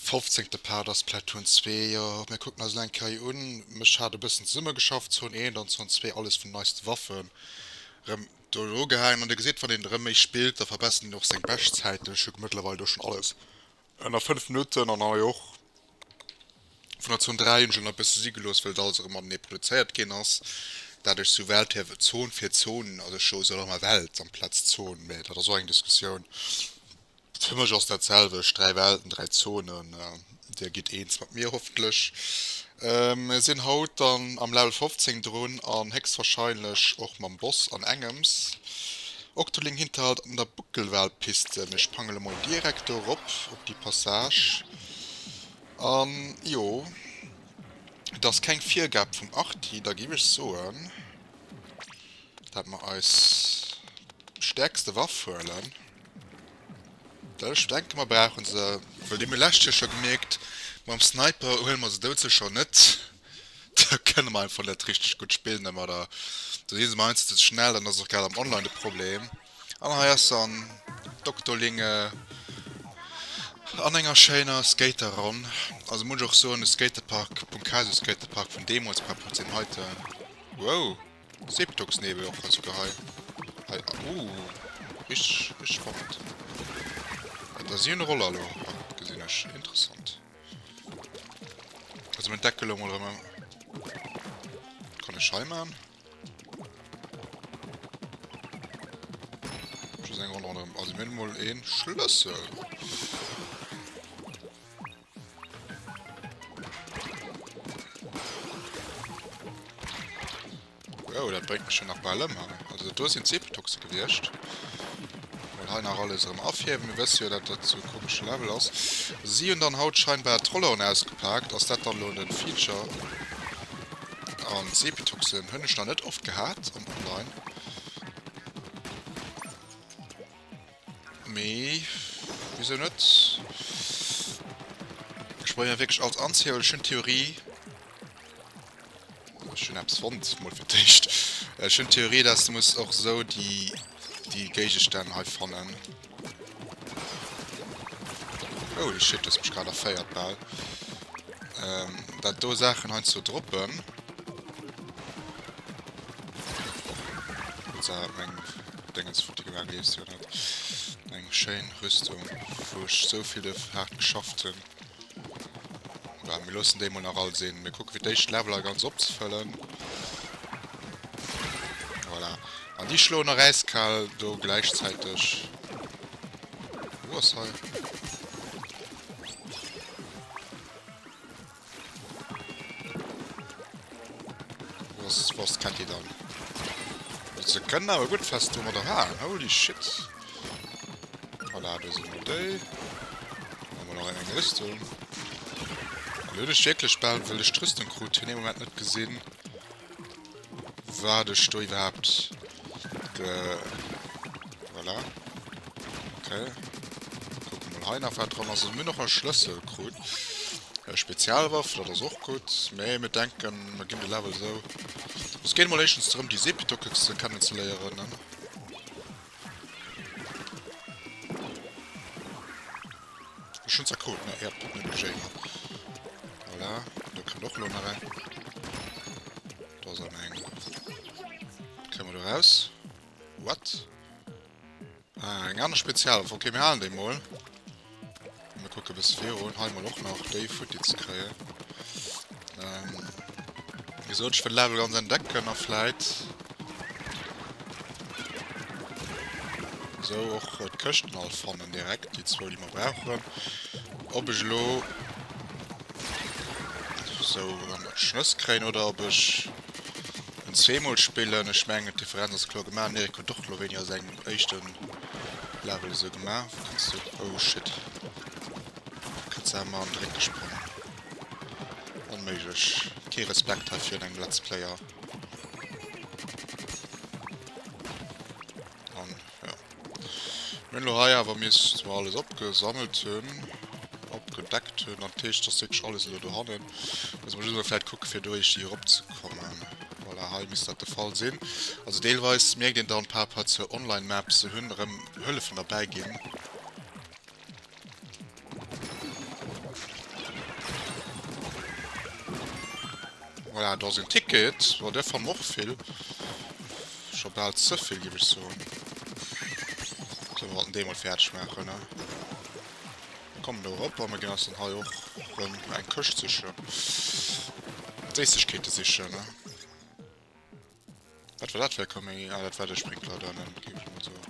Fofzéngte Part ass Platoon zwee. Jo, mir kucken eis elo eng Kéier un. Mech hat e bëssen zesumme geschafft, Zone eent an Zone zwee, alles vun neiste Waffen rëm do elo ugehaangen. An Dir gesitt, wann een erëm méi spillt, da verbessert een och seng Beschtzäiten. Ech hu mëttlerweil do schonn alles Ënner 5 Minutten an hei och vun der Zon 3 hunn ech ënner e bësse si gelooss, well et alles erëm matenee produzéiert ginn ass. Daadech sou Welt hir Zon fir Zon, also ech soe sou ëmmer Welt amplaz Zon, mee dat ass och eng Diskussioun. Fir mech ass dat selwecht, dräi Welten, dräi Zonen. Dir gitt eens mat mir hoffentlech. Mir sinn haut dann am Level 15 drun an héchstwahrscheinlech och mam Boss an engems. Octoling Hinterhalt an der Buckelwal-Piste. Mir sprangele mol direkt do erop op déi Passage. An jo, et ass keng Virgab vum Arti, da giff ech soen, dat mer eis stäerkste Waff huelen. Ech denke mer brauche se, well déi hu mir lescht Joer scho gemierkt, mam Sniper huele mer se dout sécher net, da kënne mer einfach net richteg gutt spillen dermat a da si se mer heiansdo ze schnell, dann ass et och grad am Online de Problem. An hei ass se an Doktolinge an enger schéiner Skateronn, also muss ech och soen, de Skatepark, Punkasu Skatepark vun deemools par rapport zu deem heiten, wow! Seeptogsnebel och also gehei hei ooh richteg richteg spannend ah da si hun Roller lo hei gesin ech interessant also mein Deckel lo mol rem kann ech hei maan also mir hun mol een Schlëssel. Oh, dat bréngt mech jo nach bal ëm hei. Also do sinn d'Sepetoxe gewiescht. Mol hei nach alles erëm afierwen. Mir wësse jo, dat dat sou e komesche Level ass. Si hunn dann haut scheinbar d'Rolleren ausgepaakt. Ass dat dann elo de Feature? An d'Sepetoxen hunn ech nach net oft gehat am Online. Mee wisou net? Ech bréngen wierklech alles anzéiholen. Ech hunn d'Theorie. Ech hunn eppes fonnt, mol fir d'éischt. Ech hunn d'Theorie, dass du muss och esou déi déi Géigestänn hei fannen. Holy shit, du hues mech grad erféiert bal. Ähm, dat do Saachen heiansdo droppen. Wëlls awer meng. Dengens Foto gelang lies jo net. Eng schéin Rüstung wou ech sou vill duerf haart geschafft hun. Bah mir loossen déi mol nach all sin. Mir kucken fir d'éischt Leveler ganz opzefëllen. Voilà. An déi schloen nach äiskal do gläichzäiteg. Wou ass hei? Was was kennt ihr dann? Ze kënnen awer gutt fest do mat der Haar. Holy shit. Voilà, do sinn mat déi. Wa mal nach eng Rüstung. Lëlech wierklech bal wëlech d'Rüstung krut, hunn ee Moment net gesinn. wat ech do iwwerhaapt ge... Voilà. Ok. Kucke mol hei nach, wat dran ass. Mir hunn och e Schlëssel krut. E Spezialwaff, dat ass och gutt. Mee mir denken, mir ginn de Level esou. Et geet emol éischtens drëm, déi Sepitoke kennen ze léieren. Ech hunn se krut, ne? Jep, dat negligéiere mer. Voilà, do kënnt och elo nach eng. Do ass an eng. Kréie mer do raus? What? Ah, eng aner Spezialwaff. Okay, mir halen déi mol. Mir kucke bis virun hei mal och nach déi Futti ze kréien. Ähm, wie gesagt, ich will Level ganz entdecken a vielleicht so och äh, d'Këschten all fannen direkt, die zwou die wir brauchen. Ob ich lo so an der Schnëss kréien oder ob ich en zweemol spillen, ich mengen d'Differenz ass klo gemaach, Mirko doch lo weniger seng Eischten Level esou gemaach wou kanns du oh shit kannst du emmer an d'Réck gesprongen onméiglech kee Respekt hei virun engem Let's Player an jo mir hunn elo hei awer miss zwar alles opgesammelt hunn opgedeckt hunn an d'Heescht ass wierklech alles elo dohannen muss mer just emol vläit kucke fir do éischt hir erop ze kommen. Voilà, hei misst dat de Fall sinn. Also deelweis mierkt een dann par Rapport zur Online Map, se hunn erëm Hëllefen derbäi ginn. Voilà, do ass en Ticket, jo däer fannen och vill. Scho bal ze vill géif ech soen. Sou mir wollten dee mol fäerdeg maachen ne. Mir kommen do erop a mir ginn eis dann hei och rëm eng Këscht sichen. Séissegkeete sichen. Wat war dat fir e Kaméidi? Ah, dat war de Sprinkler do hannen, géif ech mol soen.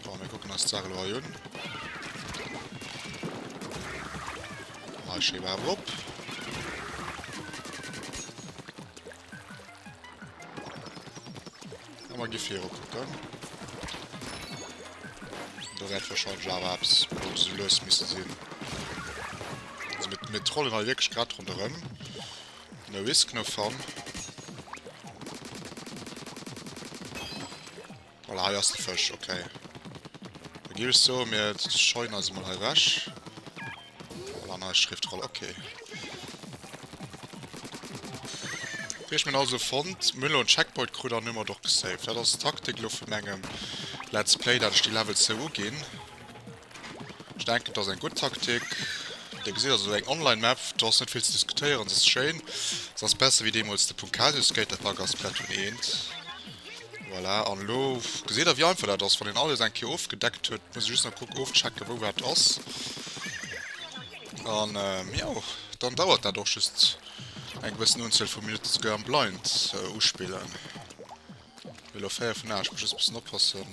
Bon, mir kucken eis d'Saach elo hei un. Hei schéi brav erop. Awer gi viru kucken. Do wäert wahrscheinlech awer eppes lo sou lues misse sinn. Also mir, mir trollen hei wierklech grad ronderëm. No risk, no fun. Voilà, hei ass de Fësch, ok. Da géif ech soen, mir scheuen eis emol hei ewech. Voilà, nei Schriftroll, ok. Wéi ech mir also fonnt, mir hunn elo en Checkpoint krut an hu mat och gesaved. Dat ass d'Taktik elo vun engem Let's Play, dat ech déi Level zou uginn. Ech denken dass eng gudd Taktik. Dir gesitt also eng online Map, do ass net vill ze diskutéieren, se ass schéin, se ass besser wéi deemols de Punkazius Skaterpark a Splatoon 1. Voilà, an elo gesitt der wéi einfach dat ass, wann een alles eng Kéier ofgedeckt huet, muss ee just nach kucken ofchecken wou wat ass. An jo, dann dauert dat och just eng gewëssen Unzuel vu Minutten, souguer am Blind uspillen. Elo 4 vun 8, muss just bessen oppassen.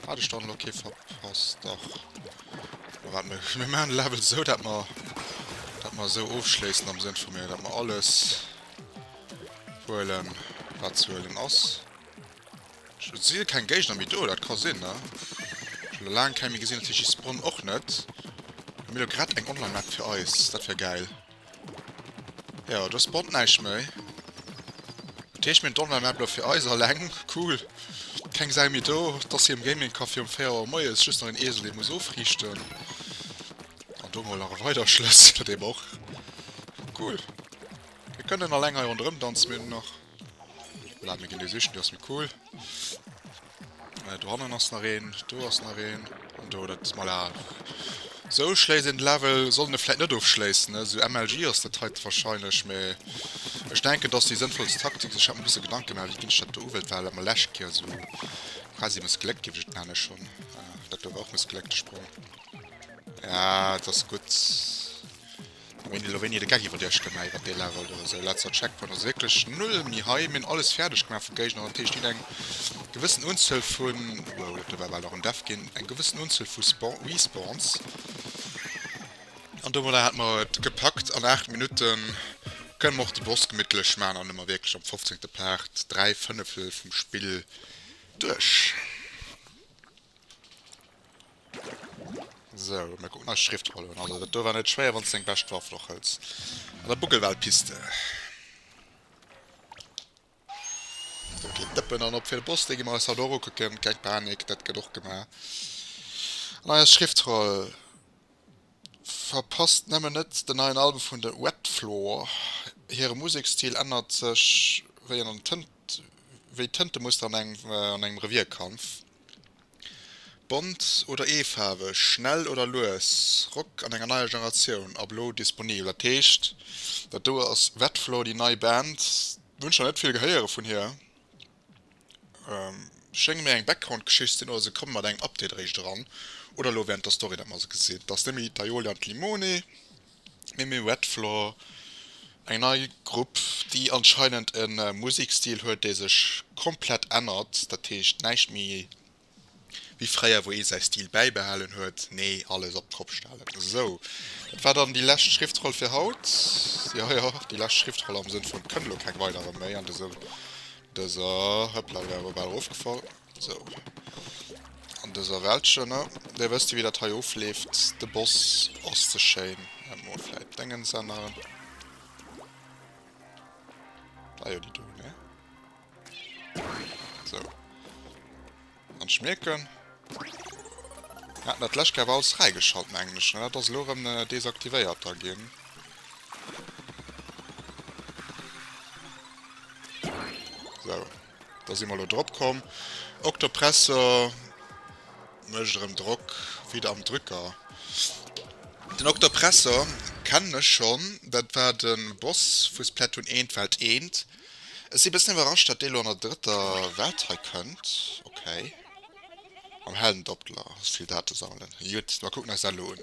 Hat ech dann elo kee verpasst? Dach. Ma wat mir, mir maan de Level esou dat mer, dat mer esou ofschléissen am Sënn vu mir, dat mer alles huelen wat ze huelen ass. Et si keng Géigner méi do, dat ka sinn ne. Schon elo laang keng méi gesinn, natierlech déi Spawn och net. Mir elo grad eng Online Map fir eis, dat wär gäil. Jo, do spawnt näischt méi. Dat heescht, mir hunn d'Online-Map elo fir eis alleng. Cool. Keng Sau méi do. Et ass hei am Gaming-Café um 4 Auer moies just nach een Esel, dee muss ofriichten. An do mol nach e weider Schlëssel, dee mer och. Cool. Mir kënnen alleng hei ronderëmdanzen, mir hunn nach. Voilà, mir ginn dee sichen, dee ass méi cool. Äh, do hannen ass nach een, do ass nach een. An do, dat, voilà. Sou schléisst een de Level, sollt een e vläit net ofschléissen, ne? Sou MLG ass dat heite warscheinlech, mä ech denken, dass déi sënnvollst Taktik, ech hat mer e bësse Gedanke gemaach, wéi ginn ech dat do uwält, war dat mer lescht Kéier sou quasi mëssgléckt, géif ech et nennen schonn. Ah, dat do war och mëssgléckt, de Sprong. Ja, et ass gutt. Mee elo wéini de Gag iwwer Iech gemeet, iwwer dee Level do. Esou letzer Checkpoint ass wierklech null méi hei. Mir hunn alles fäerdeg gemaach vum Géigner an d'Heescht, jiddeng gewëssen Unzuel vu, wow, dat do war bal nach en Death ginn, eng gewëssen Unzuel vu Spawn, Respawns. An domadder hat mer et gepackt, an 8 Minutte kënne mer och de Boss gemittlech maachen an hu mer wierklech am fofzéngte Part dräi Fënneftel vum Spill duerch. Sou, mir kucken eis Schriftroll un. Also dat do war net schwéier wann s de deng bescht Waff och hëls an der Buckelwal-Piste. Sou, keen Dëppen an op fir de Boss, dee gi mer eis haut och ukucken, keng Panik, dat gëtt och gemaach. An eis Schriftroll, Verpasst nëmmen net den neien Album vun de Wet Floor, hire Musekstil ännert sech wéi an Tënt, wéi d'Tëntemuster an engem, an engem Revierkampf. Bont oder eefaarweg, schnell oder lues, Rock an enger neier Generatioun ab elo disponibel. Dat heescht, dat do ass Wetflow, déi nei Band. Hunn scho net vill gehéiere vun hir. Schéngt méi eng Background-Geschicht ze sinn oder se komme mat engem Update eréischt eran. Oder elo wärend der Story, datt mer se gesinn. T'ass nemmi d'Aiolia an d'Limone. Mimi Red Floor, eng nei Grupp, déi anscheinend e Musekstil huet, dee sech komplett ännert. Dat heescht, näischt méi wéi fréier, wou ee säi Stil bäibehalen huet. Nee, alles op d'Kopp stellen. Esou, dat war dann déi lescht Schriftroll fir haut. Jo, jo, déi lescht Schriftroll am Sënn vun, et kënne lo keng weiderer méi an dëser, dëser, hëppla, wär awer bal erofgefall. Sou. An dëser Wäldchen, ne? Dir wësst jo, wéi dat hei ofleeft. De Boss ass ze schéin. Mä mol vläit d'Déngens änneren. Ah jo, déi do, ne? Sou. An d'Schmierken. Mir haten dat d'lescht Kéier awer alles fräigeschalt, mengen ech, ne? Dat ass elo erëm desaktivéiert da ginn. Sou. Da si mer elo drop komm. Octopresso mécht erëm Drock, wéi de am Drücker. Den Octopresso kennen ech schonn, dat war de Boss vu Splatoon 1, d'Welt 1. Ech si bëssen iwwerrascht, datt dee elo an der drëtter Welt hei kënnt. Ok. Mam Heldendoppler hues vill Date sammelen. Jut, da kucken eis dat elo un.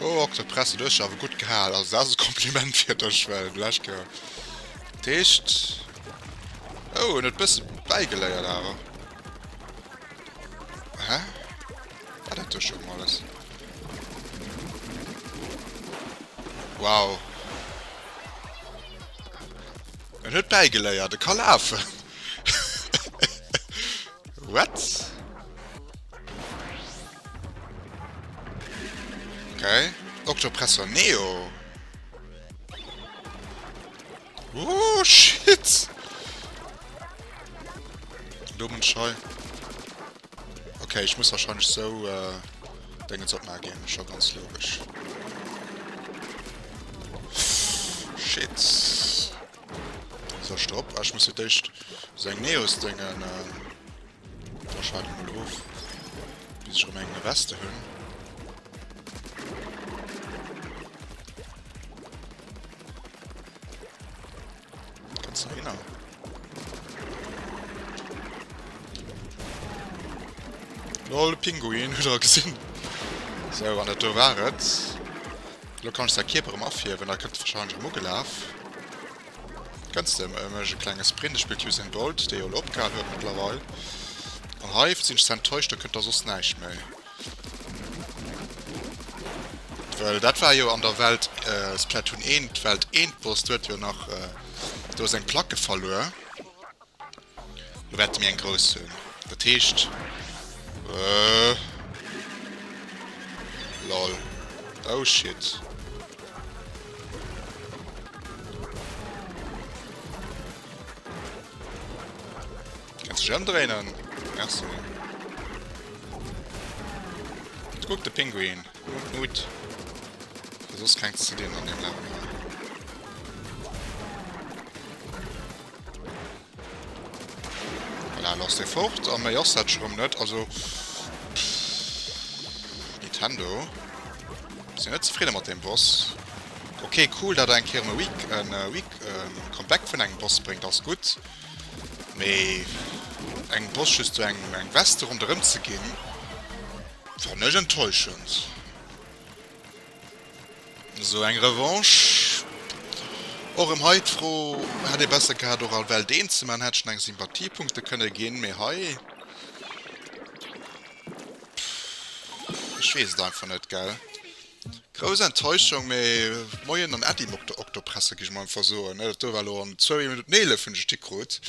Oh, ok, dat presse du awer gut gehal. Also dat ass e Kompliment fir dech, well du echt gehal. D'Heescht... Oh, en huet bësse bäigeléiert awer. Hä? Wat dat duerch um alles? Wow. En huet bäigeléiert, e ka lafen! What? Ok, Octopressor Neo! Ooh, shit! Elo muss ech hei... Ok ech muss wahrscheinlech sou Dengens opmaachen ginn, scho ganz logesch. Shit. Sou ech drop, ech muss fir d'éischt sou eng Neos Dengen da schalt ech mol of bis ech rëm eng Weste hunn. Container. Lol, Pinguin, huet er gesinn. So, an dat do war et. Lo kann ech säi Kierper erëm afierwen, da kënnt e wahrscheinlech erëm ugelaf. Kënnst de? Ech méich e klenge Sprint, ech spillt Usain Bolt, dee jo elo opgehal huet mëttlerweil. An hei sinn ech ze enttäuscht, do kënnt da soss näischt méi. Well dat war jo an der Welt, Splatoon 1, d'Welt 1 Boss, do huet jo nach do seng Placke verluer. Lo wäerte mir eng grouss hunn, dat heescht. Lol. Oh shit. Kanns dech emdréinen? Merci. Kuck de Pinguin. Mut, Mut. Fir soss keng ze dinn an dem Level. Voilà, lass de fort. An méi ass dat schrumm net. Also... Nintendo. Sin net zefrieden mat dem Boss. Okay, cool, dat eng Keer e Weak, en Weak, en Comeback vun engem Boss bréngt, ass gutt. Mee engem Boss just sou eng eng Veste ronderëm ze ginn, fannen ech enttäuschend. Sou eng Revanche. Och erëm hei d'Fro, hätt ee besser gehat och all Welt een ze man, hätt schon eng Sympathiepunkte kënne ginn, mee hei. Ech weess et einfach net, gell. Grouss Enttäuschung, mee Moien an Äddi Mokto Oktopresse gi ech mol einfach soen, ne? Dat do war elo en zwouwi Minutt un 11 hunn ech d'Stick krut.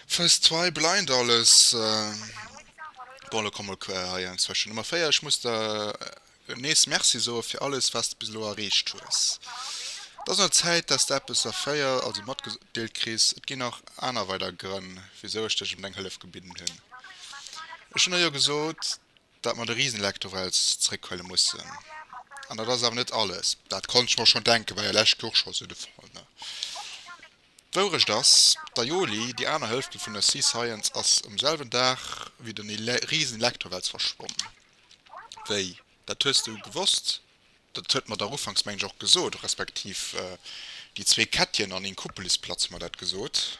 First Try, Blind alles. Bon, elo komm mol quer hei enzwëschen Nummer 4. Ech muss der nees Merci soe fir alles, wat s de bis elo erreecht hues. Et ass un der Zäit, dass s de eppes a 4 also matgedeelt kriss. Et ginn nach aner weider Grënn, wisou ech dech ëm deng Hëllef gebidden hunn. Ech hunn der jo gesot. Datt mer de Risenleck do wels zréckhuele mussen. An dat ass awer net alles. Dat konnt ech mer schonn denken, war jo lescht Joer scho sou de Fall, ne? D'Wourecht ass, d'Aioli, déi aner Hëlften vun der Sea Science, ass um selwen Dag wéi den Risenleck do wels verschwonnen. Wéi, dat hues de gewosst? Dat huet mer dach ufanks, mengen ech, och gesot, respektiv déi zwee Kettchen an een Kuppelis-Platz huet mer dat gesot.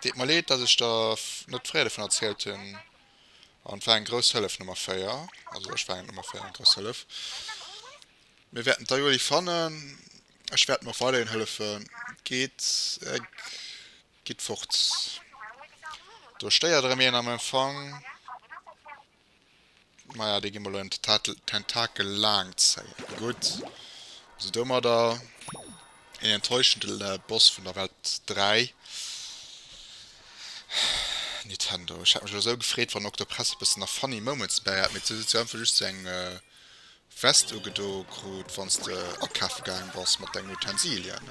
Deet mer leed dat ech der net fréier dovun erzielt hun, an et war eng grouss Hëllef Nummer 4, also ech war eng Nummer 4 eng grouss Hëllef. Mir wäerten d'Ayoly fannen, ech wäerten och weiderhin hëllefen. Geet eg gitt fort, do stéiert erëm een am Empfang. Maja, déi gi mer elo an d'Tentakel laang zéien. Gutt, also domadder een enttäuschende Boss vun der Welt 3. Nintendo, ech hätt mech elo esou gefreet, wann Octopress e bëssen nach funny Moments dobäi hat, mee huet si einfach just esou eng Vest ugedo krut, wann s de akafe gaang bass mat dengen Utensilien.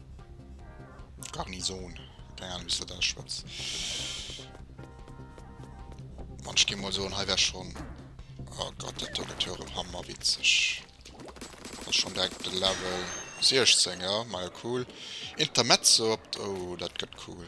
Garnison. Keine Ahnung, wieso da schwarz. Man, ich gehe mal so und hier wäre schon. Oh Gott, der Togetür im Hammer, witzig. Das ist schon direkt der Level 16, ja, mal cool. Intermezzo, oh, das geht cool.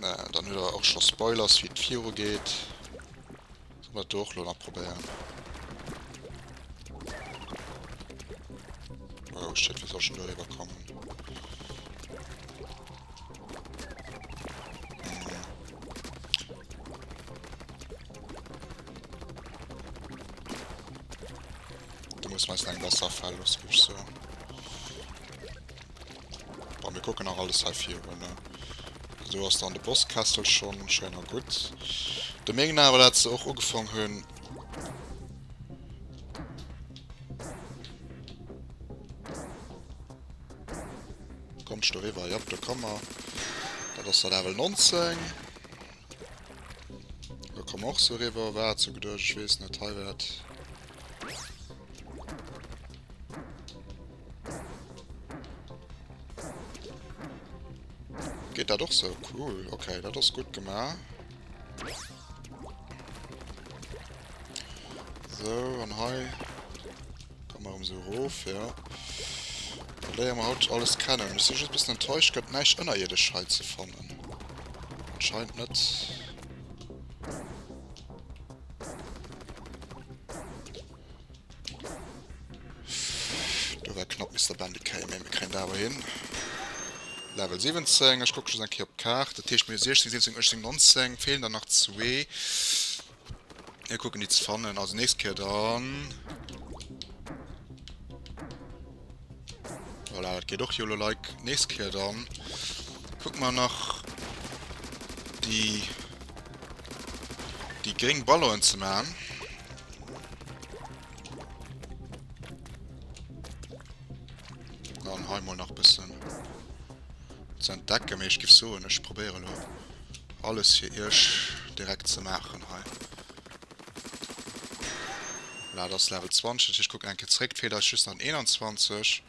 Dann huet der och scho Spoilers wéi et viru geet. Solle mer dat do och elo nach probéieren. Oh shit, wéi soll ech denn do eriwwer kommen? Hm. Du muss meist eng Wasserfall los, gëff ech sou. Bon, mir kucken nach alles hei virun. Do ass dann de Bosskessel schonn. Schéin a gutt. Da mengen awer, dat se och ugefong hunn. Kommt sto riwwer. Jop, do komm mer. Dat ass der Level 19. Do komm och so riwwer. War et so geduecht? Ech weess net. Hei wär et. Geht dat och so? Cool. Okay, dat ass gut gemaach. So, an hei. Komm mal um so rof, ja. Léier ma haut alles kennen. Ech sinn just bëssen enttäuscht, gëtt näischt ënnerierdesch hei ze fannen. Anscheinend net. Do war knapp Mister Bandit kréien, mee mir kréien dat awer hin. Level 17, ech kucke just eng Kéier op d'Kaart, dat heescht mir hu 16, 17, 18, 19, feelen der nach zwee. Mir kucken déi ze fannen, also nächst Kéier dann. Voilà, dat geet och jo lo like nächst Kéier dann. Kuck mal nach die die gring Ballonen ze machen. Dann heimol nach bisschen zu entdecken, ich gebe so und ich probiere nur alles hier erst direkt zu machen. Heim. Voilà, et ass Level 20, dat heescht ech kucken eng Kéier zréck. D'Feeler ass just an 21.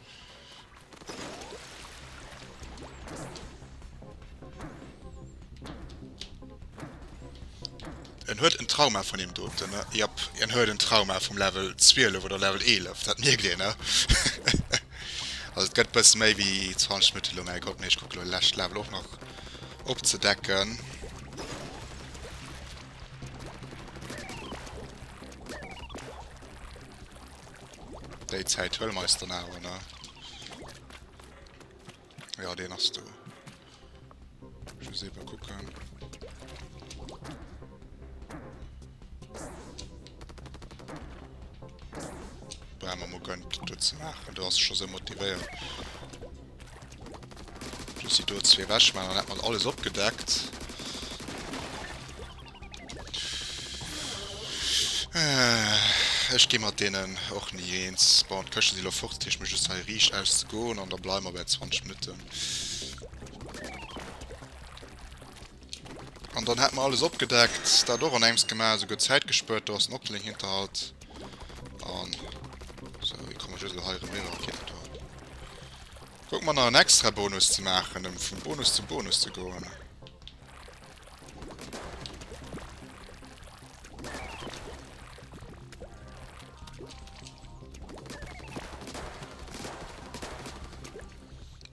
En huet en Trauma vun deem doten, ne? Jap, en huet en Trauma vum Level 12 oder Level 11, dat mierkt een, ne? Also et gëtt e bësse méi wéi 20 Minutte lo, mä eccolt, mee ech kucke lo de leschte Level och nach opzedecken. Déi Zäit hëlle mer eis dann awer, ne? Ja, den ass do. Ich muss eben gucken. Bremer mo gönnt, du ze machen. Du hast schon so motiviert. Just déi do zwee ewech maachen, dann hätt mer alles opgedeckt. Ech gi mat deenen och ni eens. Bon, d'Këschte si lo fort, dat heescht mir just hei riicht auszegoen an da bleiwe mer bäi 20 Minutten. An dann hätt mer alles opgedeckt, dat och an engems gemaach, esouguer Zäit gespuert, do ass den Octolink hinter halt. An so, wie komme just hei rem iwwer? Okay, dat war. Guck mal nach en extra Bonus ze maachen, um vum Bonus zum Bonus ze goen.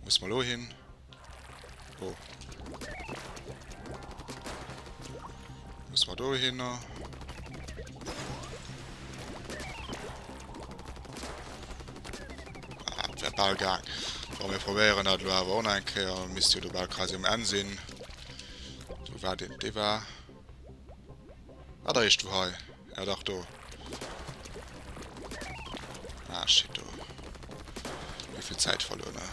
Muss mal lo hin. Oh. Muss man do hin? Äh? Ball gang. Wa mir probéieren dat lo awer on eng Kéier misst jo du bal quasi um Enn sinn. Du war den dee war. Ah, da is du hei. Ja dach do. Ah shit do. Wievill Zäit verluer ne?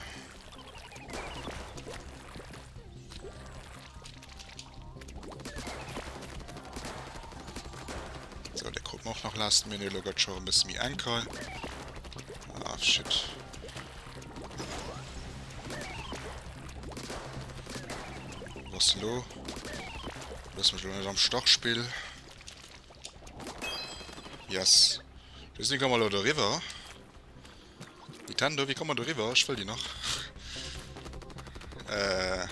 So, der kommt auch noch last minute, lo gëtt schon e bësse méi enkel. Ah, shit. Was lo? Lass mich nicht am Stachspiel. Yes. Wir sind mal oder River. Nintendo, wéi komme mer do riwwer? Ech wëll déi nach. Äh.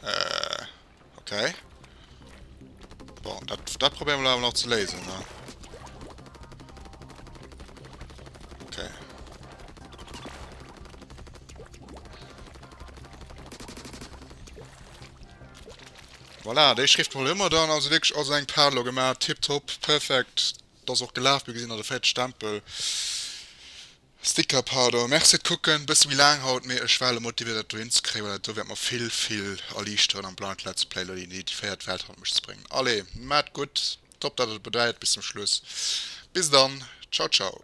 Äh. Okay. Bon, dat, dat probieren wir aber noch zu lesen, ne? Okay. Voilà, die Schrift wollen immer dann, also wirklich aus einem Padlo gemacht, tipptopp, perfekt. Et ass och gelaaf, mir gesinn der de fäerdeg Stempel, Sticker pardon. Merci fir d'Kucken, bësse méi laang haut, mee ech war elo motiviert dat do hin ze kréien, well dat do wäert mer vill vill erliichteren am Blind Let's Play elo déi déifiéiert Welt hannert mech ze bréngen. Allez, maat gutt, top dat der et begläit bis zum Schluss, bis dann, ciao ciao.